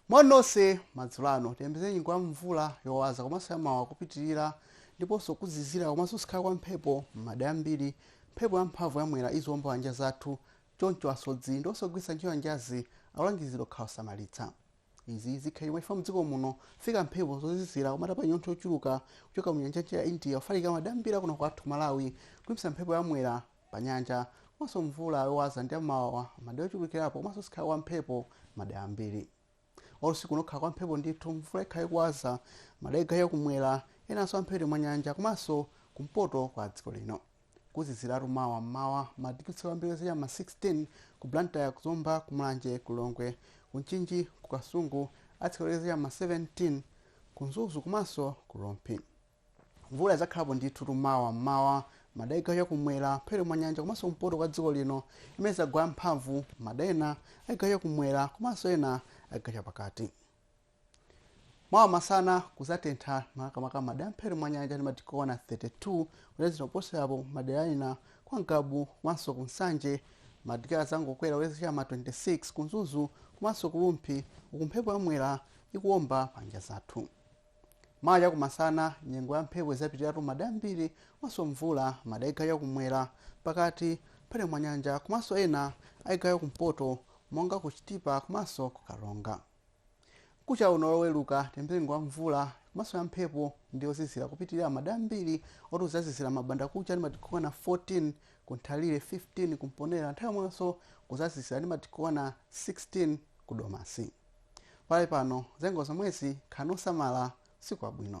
moni nonse madzulo ano tiyembekeze nyengo ya mvula yowaza komanso yamawawa kupitirira ndiponso kuzizira komanso kuzikhala kwa mphepo m'madera ambiri mphepo yamphamvu yamwera iziwomba panyanja zathu choncho asodzi ndiponso ogwiritsa ntchito nyanjazi akulangizidwa kukhala osamalitsa Izi zikhala chifukwa mdziko muno mufika mphepo zozizira koma zotapa nyontho yochuluka kuchoka munyanja ya mchere ya India kufalikira madera ambiri kuno kwathu ku Malawi kuyambitsa mphepo ya mwera panyanja komanso mvula yowaza ndi yamawawa madera ochulukirapo komanso kuzikhala kwa mphepo madera ambiri usiku uno kukhala kwa mphepo ndithu mvula ikhala ikuwaza madera a chigawo cha kumwera enanso amphepete mwa nyanja komanso kumpoto kwa dziko lino. Kuziziratu mawa m'mawa. Madigiri atsika kwambiri kulekezera cha m'ma 16 ku Blantyre, ku Zomba, ku Mulanje, ku Lilongwe, ku Mchinji, ku Kasungu, atsika kulekezera cha m'ma 17 ku Mzuzu komanso ku Rumphi. Mvula idzakhalapo ndithutu mawa m'mawa m'madera a chigawo cha kumwera, mphepete mwa nyanja komanso kumpoto kwa dziko lino imene idzagwa yamphamvu m'madera ena a chigawo cha kumwera komanso ena a chigawo chapakati. mawa masana kuzatentha makamaka madera a m'mphepete mwa nyanja ndi madigiri okwana 32 ulezera kuposerapo madera ena kwa ngabu komanso ku nsanje madigiri azangokwera kulekezera ma 26 ku mzuzu komanso ku rumphi uku mphepo yamwera ikuwomba panyanja zathu mawa chakumasana nyengo ya mphepo izapitiratu madera ambiri komanso mvula madera a chigawo chakumwera pakati mphepete mwa nyanja komanso ena a chigawo cha kumpoto monga ku chitipa komanso ku karonga Mkucha uno loweluka tiyembekeze nyengo ya mvula komanso ya mphepo ndi yozizira kupitilira madera ambiri moti kuzazizira mbandakucha ndi madigiri okwana 14 ku Nthalire 15 ku Mponela nthawi yomwenso kuzazizira ndi madigiri okwana 16 ku Domasi. Pakali pano zanyengo ndi zomwezi khalani osamala usiku wabwino.